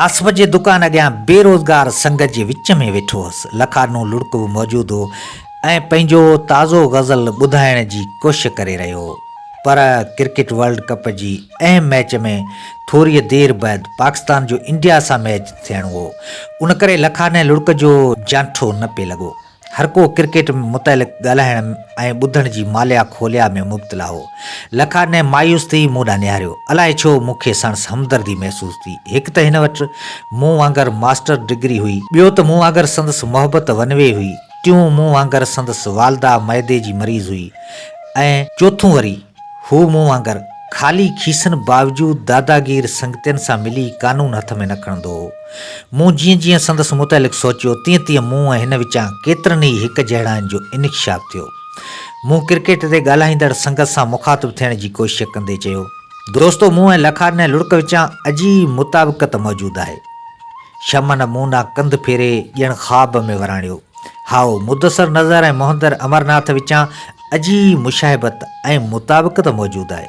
آصف جي دڪان اڳيان بي روزگار سنگت جي وچ ۾ ويٺو هوس. لکارنو لڙڪ به موجود هو ۽ پنهنجو تازو غزل ٻڌائڻ جي ڪوشش ڪري رهيو هو. پر ڪرڪيٽ ورلڊ ڪپ جي اهم ميچ ۾ ٿوريء دير بعد پاڪستان جو انڊيا سان ميچ ٿيڻو هو. ان ڪري لکارني لڙڪ جو جانٺو نه پئي لڳو. هرڪو ڪرڪيٽ متعلق ڳالهائڻ ۽ ٻڌڻ جي ماليا کوليا ۾ مبتلا هو. لکا نئن مايوس ٿي مون ڏانهن نهاريو. الائي ڇو مون کي سڻس همدردي محسوس ٿي. هڪ ته هن وٽ مون وانگر ماسٽر ڊگري هئي. ٻيو ته مون وانگر سندس محبت ون وي هئي. ٽيون مون وانگر سندس والده معدي جي مريض هئي ۽ چوٿون وري. هو مون وانگر خالي کيسن باوجود داداگير سنگتين سان ملي قانون هٿ ۾ نه کڻندو هو. مون جيئن جيئن سندس متعلق سوچيو تيئن تيئن مون ۽ هن وچان ڪيترن ئي هڪ جهڙاين جو انڪشاف ٿيو. مون ڪرڪيٽ تي ڳالهائيندڙ سنگت سان مخاطب ٿيڻ جي ڪوشش ڪندي چيو، دوستو مون ۽ لکا نه لڙڪ وچان اجي مطابقت موجود آهي. شمن مون ڏانهن ڪنڌ ڦيري ڄڻ خواب ۾ وراڻيو، هائو مدثر نظر ۽ مهندر امرناٿ وچان اجهي مشاهبت ۽ مطابقت موجود آهي.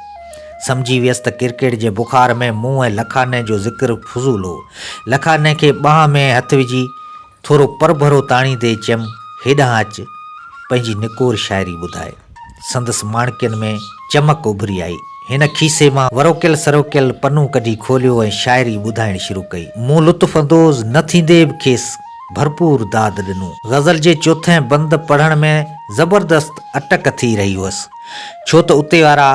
سمجهي ويس ته ڪرڪيٽ جي بخار ۾ مون ۽ لکاني جو ذڪر فضول هو. لکاني کي ٻانهن ۾ هٿ وجهي ٿورو پرڀرو تاڻيندي چيم هيڏانهن اچ پنهنجي نڪور شاعري ٻڌاء. سندس ماڻڪين ۾ چمڪ اڀري آئي. هن کيسي مان وروڪيل سروڪيل پنو ڪڍي کوليو ۽ شاعري ٻڌائڻ شروع ڪئي. مون لطف اندوز نه ٿيندي به کيس ڀرپور داد ڏنو. غزل جي چوٿين بند پڙهڻ ۾ زبردست اٽڪ ٿي رهي هئس، ڇو ته اتي وارا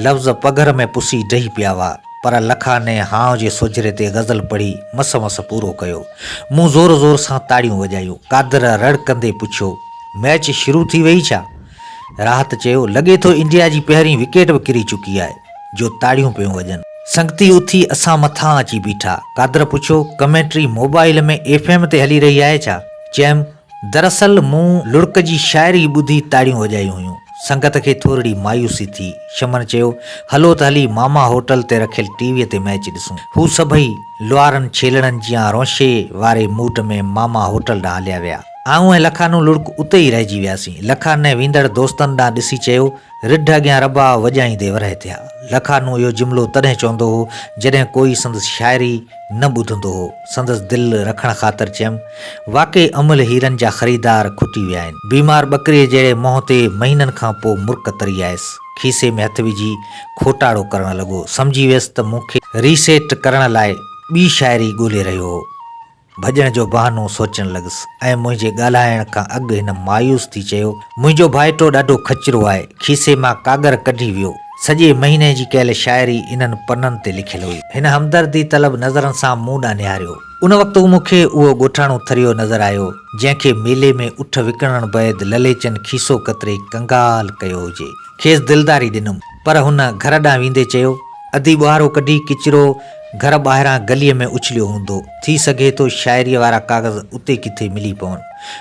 لفظ پگهر ۾ پسي ڊهي پيا هئا، پر لکاني هانء جي سوجهري تي غزل پڙهي مس مس پورو ڪيو. مون زور زور سان تاڙيون وڄايون. قادر رڙڪندي پڇيو، ميچ شروع ٿي ويئي ڇا؟ راحت چيو، لڳي ٿو انڊيا جي پهرين وڪيٽ به ڪري چڪي آهي جو تاڙيون پيون وڄن. سنگتي اٿي اسان مٿان اچي بيٺا. قادر پڇيو، ڪمينٽري موبائيل ۾ ايف ايم تي هلي رهي آهي ڇا؟ چيم، دراصل مون لڙڪ جي شاعري ٻڌي تاڙيون وڄايون هيون. سنگت کي ٿورڙي مايوسي ٿي. شمن چيو، هلو ته هلي ماما هوٽل تي رکيل ٽي ويء تي ميچ ڏسون. هو سڀئي لوهارن ڇيلڙن جيان رونشي واري موڊ ۾ ماما هوٽل ڏانهن هليا ويا. آئون ۽ لکانو لڙڪ اتي ئي رهجي وياسين. لکانئن ويندڙ دوستن ڏانهن ڏسي چيو، رڍ اڳيان رباء وڄائيندي ورهيه ٿيا. لکانو اهو جملو تڏهن چوندو هو، جڏهن ڪوئي سندس شاعري نه ٻڌندو هو. سندس دل رکڻ خاطر چيم، واقعي املهه هيرن جا خريدار کٽي ويا آهن. بيمار ٻڪريء جهڙي منهن تي مهينن کان پوء مرڪ تري آيس. کيسي ۾ هٿ وجهي کوٽاڙو ڪرڻ لڳو. سمجهي ويس ته مون کي ري سيٽ ڪرڻ لاء ٻي شاعري ڳولي رهيو هو. ڀڄڻ جو بهانو سوچڻ لڳس ۽ منهنجي ڳالهائڻ کان اڳ هن مايوس ٿي چيو، منهنجو ڀائٽو ڏاڍو کچرو آهي. کيسي مان ڪاڳر ڪڍي ويو. سڄي مهيني جي ڪيل شاعري انهن پنن تي لکيل هئي. هن همدردي طلب نظرن سان مون ڏانهن نهاريو. ان وقت مون کي اهو ڳوٺاڻو ٿريو نظر آيو، جنهن کي ميلي ۾ اٺ وڪڻڻ بعد لليچن کيسو ڪتري ڪنگال ڪيو هجي. کيس دلداري ڏنم، پر هن گهر ڏانهن ويندي چيو، ادي ٻوهارو ڪڍي ڪچرو گهر ٻاهران گليء ۾ اڇليو هوندو، ٿي سگهي ٿو شاعريء وارا ڪاغذ اتي ڪٿي ملي پون.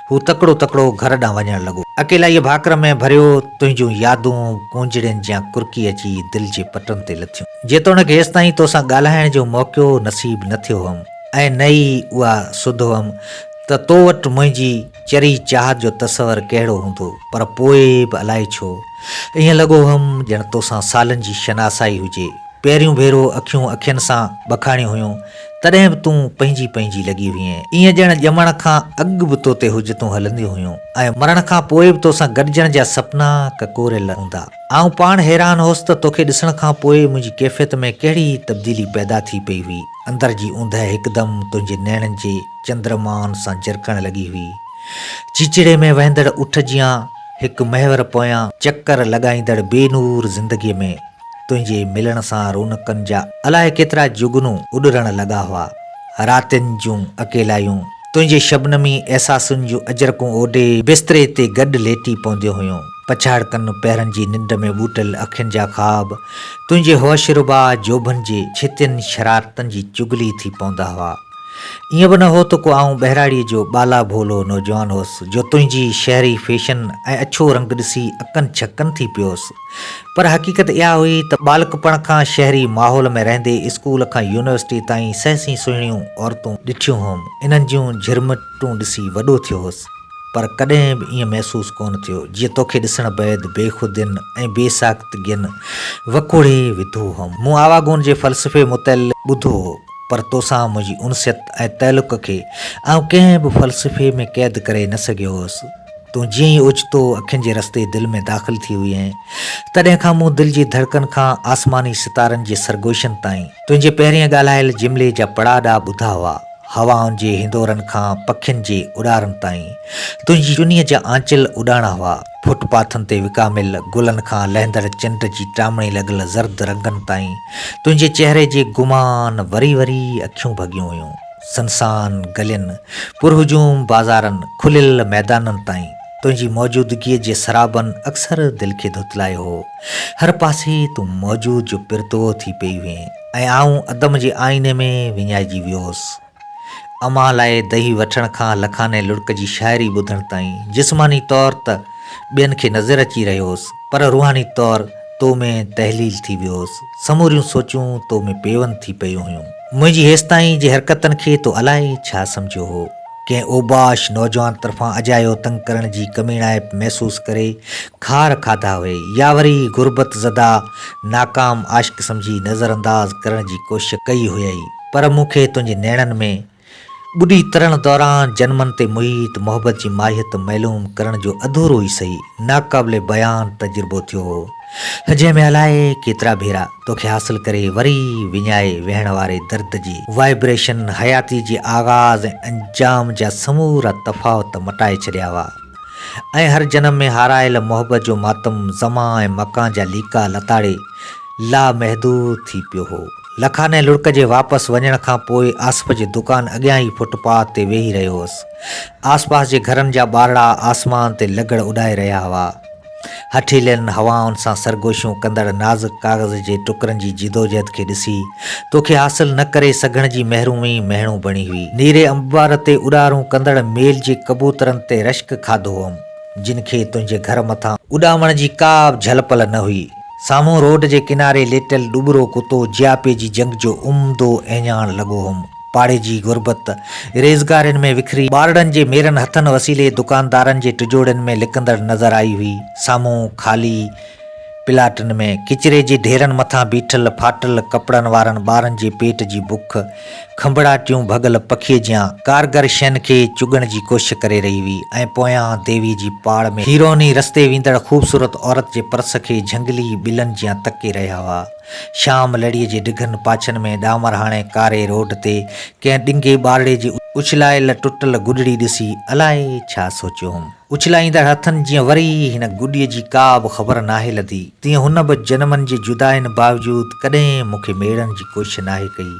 هو تڪڙو تڪڙو گهر ڏانهن وڃڻ لڳو. اڪيلائيء ڀاڪر ۾ ڀريو تنهنجون يادون پونجڙين جيان ڪرڪي اچي دل جي پٽن تي لٿيون. جيتوڻيڪ هيستائين توسان ڳالهائڻ جو موقعو نصيب نه ٿيو هئم ۽ نه ئي اها سڌ هئم ته تو وٽ منهنجي چري چاهت جو تصور ڪهڙو هوندو پر پوء به الائي ڇو ائين لڳو هئم ڄڻ توسان سالن جي شناسائي هجي. پهريون ڀيرو اکيون اکين سان ٻکاڻيون هيون، تڏهن به تون پنهنجي پنهنجي لڳي هئينء، ايئن ڄڻ ڄمڻ کان اڳ به تو تي حجتون هلنديون هيون ۽ مرڻ کان پوء به تو سان گڏجڻ جا سپنا ڪڪوريل هوندا. آئون پاڻ حيران هوس ته توکي ڏسڻ کان پوء منهنجي ڪيفيت ۾ ڪهڙي ئي تبديلي پيدا ٿي پئي هئي. اندر جي اوندهه هڪدم تنهنجي نيڻن جي چندرمان سان جرڪڻ لڳي هئي. چيچڙي ۾ وهندڙ اٺ جيان هڪ محور پويان چڪر لڳائيندڙ بي نور زندگيء ۾. تنهنجي ملڻ سان رونقن جا الائي ڪيترا جگنو اڏرڻ لڳا هئا. راتين جون اڪيلايون تنهنجي شبنمي احساسن جون اجرڪون اوڍي بستري تي گڏ ليٽي پونديون هيون. پڇاڙڪن پهرن جي ننڊ ۾ ٻوٽل اکين جا خواب تنهنجي هوش ربا جوڀن جي ڇتين شرارتن جي چغلي ٿي پوندا هئا. ائين به نه هو ته ڪو آئون ٻهراڙيء جو ٻالا ڀولو نوجوان هوس جو تنهنجي شهري فيشن ۽ اڇو رنگ ڏسي اڪن ڇڪن ٿي پيوس. پر حقيقت اها هئي ته ٻالڪپڻ کان شهري ماحول ۾ رهندي اسڪول کان يونيورسٽي تائين سهسين سهڻيون عورتون ڏٺيون هئم، انهن جون جهرمٽون ڏسي وڏو ٿيو هوس، پر ڪڏهن به ائين محسوس ڪونه ٿيو جيئن توکي ڏسڻ بعد بيخودين ۽ بي ساختگين وڪوڙي وڌو هئم. مون آواگون جي فلسفي متعلق ٻڌو هو، پر توسان منهنجي انسيت ۽ تعلق کي آئون ڪنهن به فلسفي ۾ قيد ڪري نه سگهيو هوس. تون جيئن ئي اوچتو اکين جي رستي دل ۾ داخل ٿي هئين، تڏهن کان مون دل جي ڌڙڪن کان آسماني ستارن جي سرگوشن تائين، تنهنجي پهرين ڳالهايل جملي جا پڙاء ڏا ٻڌا هئا، هوائن جي هندورن کان پکين جي اڏارن تائين، تنهنجي چنيء جا آنچل اڏاڻا هئا، فٽ پاٿن تي وڪاميل گلن کان لهندڙ چنڊ جي ٽامڻي لڳل زرد رنگن تائين، تنهنجي چهري جي گمان وري وري اکيون ڀڳيون هيون. سنسان گلين، پرهجوم بازارن، کليل ميدانن تائين تنهنجي موجودگيء جي سرابن اڪثر دل کي ڌتلايو هو. هر پاسي تون موجود جو پرتوو ٿي پئي هئين ۽ آئون عدم جي آئيني ۾ وڃائجي ويو هوس. اوهان لاء دهي وٺڻ کان لکاني لڙڪ جي شاعري ٻڌڻ تائين جسماني طور ته ٻين کي نظر اچي رهيو هوس پر روحاني طور تو ۾ تحليل ٿي ويو هوس. سموريون سوچون تو ۾ پيوند ٿي پيون هيون. منهنجي هيستائين جي حرڪتن کي تو الائي ڇا سمجهيو هو؟ ڪنهن اوباش نوجوان طرفان اجايو تنگ ڪرڻ جي ڪميڻائپ محسوس ڪري خار کاڌا هئي يا وري غربت زده ناڪام عاشق سمجهي نظرانداز ڪرڻ جي ڪوشش ڪئي هئي پر مون کي تنهنجي نيڻن ۾. ٻڏي ترڻ دوران جنمن تي محيط محبت جي ماهيت معلوم ڪرڻ جو اڌورو ئي سهي ناقابل بيان تجربو ٿيو هو، جنهن ۾ الائي ڪيترا ڀيرا توکي حاصل ڪري وري وڃائي ويهڻ واري درد جي وائبريشن حياتي جي آغاز ۽ انجام جا سمورا تفاوت مٽائي ڇڏيا هئا ۽ هر جنم ۾ هارايل محبت جو ماتم زمان ۽ مڪان جا ليڪا لتاڙي لامحدود ٿي پيو هو. لکانئن لڙڪ جي واپس وڃڻ کان پوء آصف جي دڪان اڳيان ئي فٽ پاٿ تي ويهي رهيو هوس. آس پاس جي گهرن جا ٻارڙا آسمان تي لغڙ اڏائي رهيا هئا. هٺيلين هوائن سان سرگوشيون ڪندڙ نازڪ ڪاغذ جي ٽڪرن جي جدوجهد کي ڏسي توکي حاصل نه ڪري سگهڻ جي محرومي مهڻو بڻي هئي. نيري انبار تي اڏارون ڪندڙ ميل جي ڪبوترن تي رشڪ کاڌو هئم، جن کي تنهنجي گهر مٿان اڏامڻ جي ڪا به جهل پل نه هئي. سامهون روڊ جي ڪناري ليٽيل ڏٻرو ڪتو جياپي جي جنگ جو عمدو اهڃاڻ لڳو هوم. پاڙي جي غربت، ريزگارين ۾ وکري، ٻارڙن جي ميرن هٿن وسيلي دڪاندارن جي ٽجوڙين ۾ لڪندڙ نظر آئي هئي. سامهون خالي پلاٽن ۾ ڪچري جي ڍيرن مٿان بيٺل ڦاٽل ڪپڙن وارن ٻارن جي پيٽ جي بک، کنڀڙاٽيون ڀڳل پکيء جيان ڪارگر شين کي چڳڻ جي ڪوشش ڪري رهي هئي ۽ پويان ديوي جي پاڙ ۾ هيروني رستي ويندڙ خوبصورت عورت جي پرس کي جهنگلي ٻلن جيان تڪي رهيا هئا. شام لڙيء جي ڊگهن پاڇن ۾ ڏامرهاڻي ڪاري روڊ تي ڪنهن ڏنگي ٻارڙي جي اڇلايل ٽٽل گڏڙي ڏسي الائي ڇا سوچيو هوم. اڇلائيندڙ هٿن جيئن وري هن گڏيء جي ڪا به خبر ناهي لڌي، تيئن هن به جنمن جي جدائين باوجود ڪڏهن مون کي ميڙڻ جي ڪوشش ناهي ڪئي.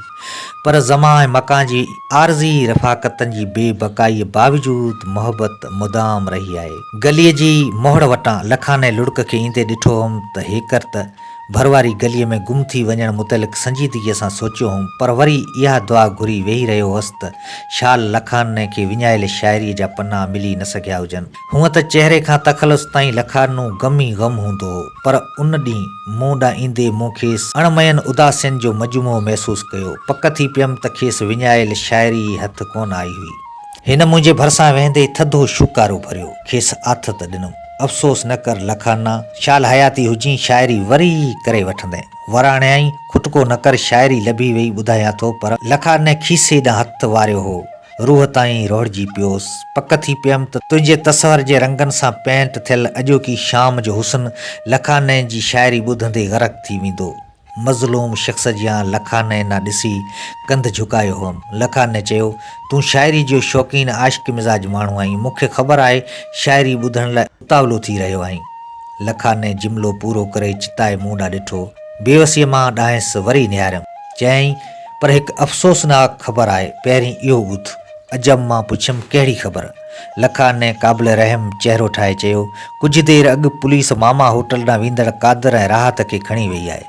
پر زمان ۽ مڪان جي عارضي رفاقتن جي بي بقائيء باوجود محبت مدام رهي آهي. گليء جي موهڙ وٽان لکانئن لڙڪ کي ايندي ڏٺو هئم ته هيڪر ته. ڀر واري گليء ۾ گم ٿي وڃڻ متعلق سنجيدگيء سان سوچيو هوم، پر وري اها دعا گهري ويهي رهيو هوس ته شال لکارني کي وڃايل شاعريء جا پنا ملي نه سگهيا هجن. هونء ته چهري کان تخلص تائين لکارنو غم ئي غم هوندو هو، پر ان ڏينهن مون ڏانهن ايندي مون کيس اڻ مئين اداسين جو مجموعو محسوس ڪيو. پڪ ٿي پيم ته کيس وڃايل شاعري ئي هٿ ڪونه آئي هئي. هن منهنجي ڀرسان ويهندي ٿڌو شوڪارو ڀريو. کيس آٿت ڏنم. افسوس نه ڪر لکانا، شال حياتي هجين شاعري وري ئي ڪري وٺندين. وراڻيائين، کٽڪو نه ڪر شاعري لڀي وئي ٻڌايان ٿو پر لکاني کيسي ڏانهن هٿ واريو هو. روح تائين روڙجي پيوس. پڪ ٿي پيم ته تنهنجي تصور جي رنگن سان پينٽ ٿيل اڄوڪي شام جو حسن لکاني جي شاعري ٻڌندي غرق ٿي ويندو. مظلوم شخص جيان لکانئن ڏانهن ڏسي ڪنڌ جهڪايو هئم. لکانئن چيو، تون شاعري جو شوقين عاشق مزاج ماڻهو آهين، مون کي خبر آهي شاعري ٻڌڻ لاء اتاولو ٿي رهيو آهين. لکانئن جملو پورو ڪري چتائي مون ڏانهن ڏٺو. بيوسيء مان ڏانهس وري نهاريم. چيائين، پر هڪ افسوسناڪ خبر آهي، پهرين اهو ٻڌ. عجب مان پڇيم، ڪهڙي خبر؟ لکان قابل رحم چهرو ٺاهي چيو، ڪجهه دير اڳ پوليس ماما هوٽل ڏانهن ويندڙ قادر ۽ راحت کي کڻي وئي آهي.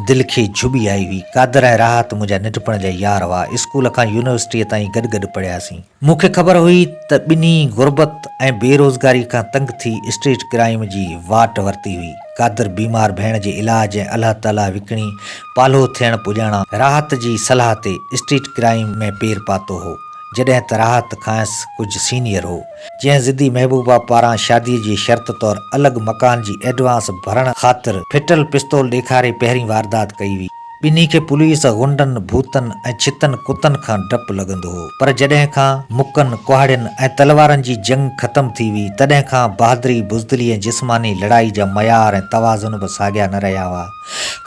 دل کي جهٻي آئي هئي. قادر ۽ راحت منهنجا ننڍپڻ جا يار هئا، اسڪول کان يونيورسٽيء تائين گڏ گڏ پڙهياسين. مون کي خبر هئي ته ٻنهي غربت ۽ بي روزگاري کان تنگ ٿي اسٽريٽ ڪرائيم جي واٽ ورتي هئي. قادر بيمار ڀيڻ جي علاج ۽ الهه تلهه وڪڻي پالهو ٿيڻ پڄاڻان راحت جي صلاح تي اسٽريٽ ڪرائيم ۾ پير پاتو هو. جڏهن ته راحت کانئس ڪجهه سينيئر هو، جنهن ضدي محبوبا پاران شاديء جي شرط طور الڳ مڪان جي ايڊوانس ڀرڻ خاطر ڦٽل پستول ڏيکاري پهرين واردات ڪئي هئي. ٻنهي کي پوليس، غنڊن، ڀوتن ۽ ڇتن ڪتن کان ڊپ لڳندو هو، پر جڏهن کان مڪن، ڪهاڙين ۽ تلوارن جي جنگ ختم ٿي هئي، تڏهن کان بهادري، بزدلي ۽ جسماني لڙائي جا معيار ۽ توازن به ساڳيا نه رهيا هئا.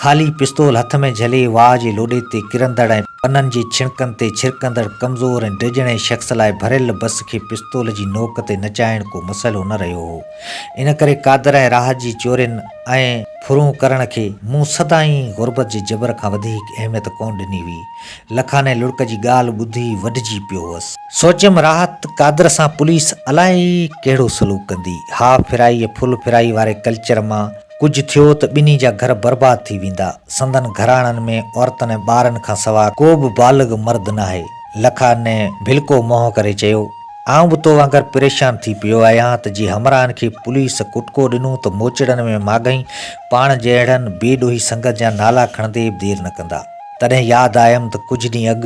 خالي پستول هٿ ۾ جهلي واهه جي لوڏي تي ڪرندڙ ۽ پنن جي ڇڻڪن تي ڇرڪندڙ ڪمزور ۽ ڊڄڻي شخص لاء ڀريل بس کي پستول جي نوڪ تي نچائڻ ڪو مسئلو نه رهيو هو. ان ڪري قادر ۽ راحت جي چورين ۽ ڦرون ڪرڻ کي مون سدائين غربت جي جبر کان وڌيڪ اهميت ڪونه ڏني هئي. لکاني لڙڪ جي ڳالهه ٻڌي وڍجي پيو هوس. سوچيم راحت قادر سان پوليس الائي ڪهڙو سلوڪ ڪندي. هاف ڦرائي ۽ ڦل ڦرائي واري ڪلچر مان ڪجهه ٿيو ته ٻنهي جا گهر برباد ٿي ويندا. سندن گهراڻن ۾ عورتن ۽ ٻارن کان سواء ڪو به بالغ مرد ناهي. لکا نئن ڀلڪو منهن ڪري چيو، آئون به تو وانگر پريشان ٿي پيو آهيان ته جي همراهن کي پوليس ڪٽڪو ڏنو ته موچڙن ۾ ماڳهين پاڻ جهڙن بي ڏوهي سنگت جا نالا کڻندي به دير نه ڪندا. تڏهن ياد آيم ته ڪجهه ڏينهن اڳ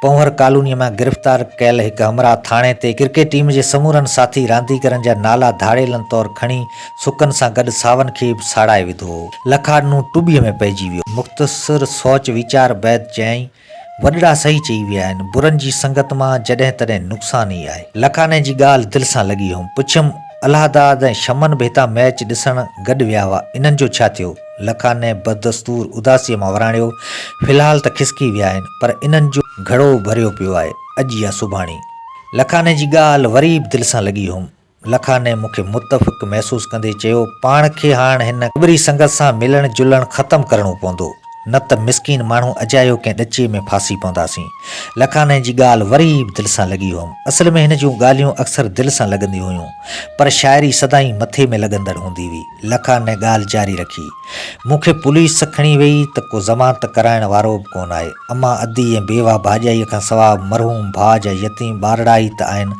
پونئر ڪالونيء مان گرفتار ڪيل هڪ همراهه ٿاڻي تي ڪرڪيٽ ٽيم جي سمورن ساٿي رانديگرن جا نالا ڌاڙيلن طور کڻي سڪن سان گڏ ساون کي به ساڙائي وڌو هو. لکاڏنو ٽٻي ۾ پئجي ويو. مختصر سوچ ويچار بعد چيائين، وڏڙا صحيح چئي ويا آهن. برن جي سنگت مان جڏهن تڏهن نقصان ئي آهي. لکاڏني جي ڳالهه دل سان لڳي هيم. پڇيم، الهاداد ۽ شمن به هتان ميچ ڏسڻ گڏ ويا هئا، انهن جو ڇا ٿيو؟ لکانئن بدستور اداسيء مان وراڻيو، في الحال ته کسڪي ويا آهن، پر انهن جو گهڙو ڀريو پيو آهي، اڄ يا سڀاڻي. لکانئن جي ڳالهه وري به دل سان لڳي هيم. لکانئن مون کي متفق محسوس ڪندي چيو، پاڻ کي هاڻ هن ڪٻري سنگت سان ملڻ جلڻ ختم ڪرڻو پوندو، نه ته مسڪين ماڻهو اجايو ڪنهن ڏچي ۾ ڦاسي پونداسين. لکانئن جي ڳالهه وري به دل سان لڳي هيم. اصل ۾ هن جون ڳالهيون اڪثر دل سان لڳنديون هيون، پر شاعري سدائين مٿي ۾ لڳندڙ هوندي هئي. لکا نئين ڳالهه جاري رکي، مون کي پوليس کڻي ويئي ته ڪو ضمانت ڪرائڻ وارو به ڪونه آهي. امان ادي ۽ بيوه ڀاڄائيء کان سواء مرحوم ڀاء جا يتيم ٻارڙا ئي ته آهن،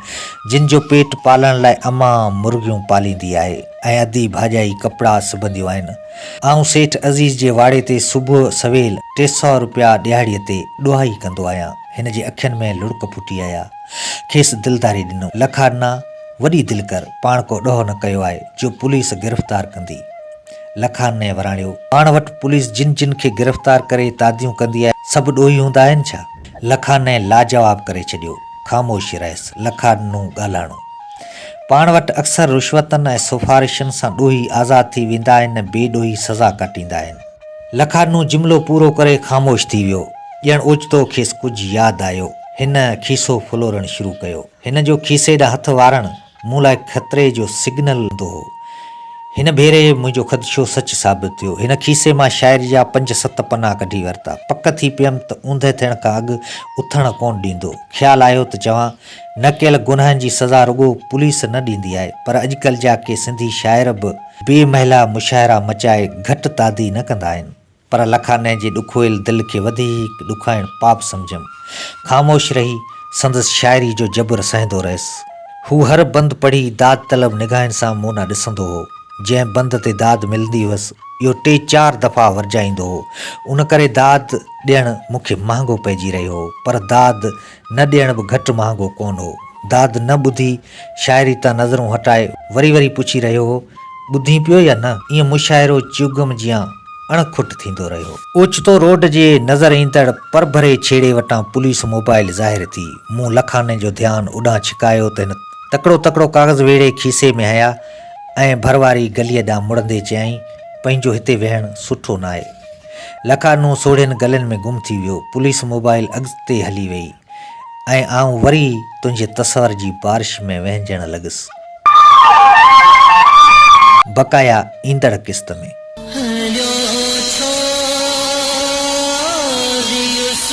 جن جو پيٽ پالڻ لاء امان مرغيون پاليندي آهي ۽ ادي ڀاڄائي ڪپڙا سبنديون آهن. آئون سيٺ عزيز جي واڙي تي صبح سويل ٽي سؤ رپيا ڏهاڙيء تي ڏوهائي ڪندو آهيان. هن جي اکين ۾ لڙڪ ڦٽي آيا. کيس دلداري ڏنم. لکا نه! وڏي دل ڪر، پاڻ ڪو ڏوهه نه ڪيو آهي، جو پوليس گرفتار ڪندي. لکان نئين وراڻيو، پاڻ وٽ پوليس جن جن کي گرفتار ڪري تاديون ڪندي آهي، سڀ ڏوهي هوندا آهن ڇا؟ لکان نئين لاجواب ڪري ڇڏيو. خاموش رهيس. لکان نون ڳالهائڻو. پاڻ وٽ اڪثر رشوتن ۽ سفارشن سان ڏوهي آزاد ٿي ويندا آهن ۽ بي ڏوهي سزا ڪاٽيندا آهن. لکان نون جملو پورو ڪري خاموش ٿي ويو. ڄڻ اوچتو کيس ڪجهه ياد آيو. هن کيسو ڦلورڻ شروع ڪيو. هن جو کيسي ڏانهن هٿ وارڻ مون لاء خطري جو سگنل هوندو هو. هن ڀيري منهنجو خدشو سچ ثابت ٿيو. هن کيسي مان شاعري جا پنج ست پنا ڪڍي ورتا. پڪ ٿي پيم ته اوندهه ٿيڻ کان اڳ اٿڻ ڪونه ڏيندو. خيال آيو ته چوان، نه ڪيل گناهن جي سزا رڳو پوليس نه ڏيندي آهي، پر اڄڪلهه جا ڪي سنڌي شاعر به بي محله مشاهرا مچائي گهٽ تادي نه ڪندا آهن. پر لکانئن جي ڏکويل دل کي وڌيڪ ڏکائڻ پاپ سمجهيم. خاموش رهي سندس شاعري جو جبر سهندو رهيس. هو هر بند پڙهي داد طلب نگاهن سان مون ڏانهن ڏسندو هو. جنهن بند تي داد ملندي هئس، اهو ٽي چار دفعا ورجائيندو هو. ان ڪري داد ڏيڻ مون کي مهانگو پئجي رهيو هو، پر داد نه ڏيڻ به گهٽ مهانگو ڪونه هو. داد نه ٻڌي، شاعري تان نظرون هٽائي، وري وري پڇي رهيو هو، ٻڌين پيو يا نه؟ ائين مشاعرو چيوگم جيان اڻ کٽ ٿيندو رهيو. اوچتو روڊ جي نظر ايندڙ پرڀري ڇيڙي وٽان پوليس موبائيل ظاهر ٿي. مون لکاني جو ڌيان اوڏانهن ڇڪايو ته هن تڪڙو تڪڙو ڪاغذ ويڙهي کيسي ۾ هنيا ۽ ڀر واري گليء ڏانهن مڙندي چيائين، پنهنجو هتي ويهڻ سٺو ناهي. لکارنو سوڙهين گلين ۾ گم ٿي ويو. پوليس موبائل اڳتي هلي وئي ۽ آئون وري تنهنجي تصور جي بارش ۾ وهنجڻ لڳس. بقايا ايندڙ قسط ۾.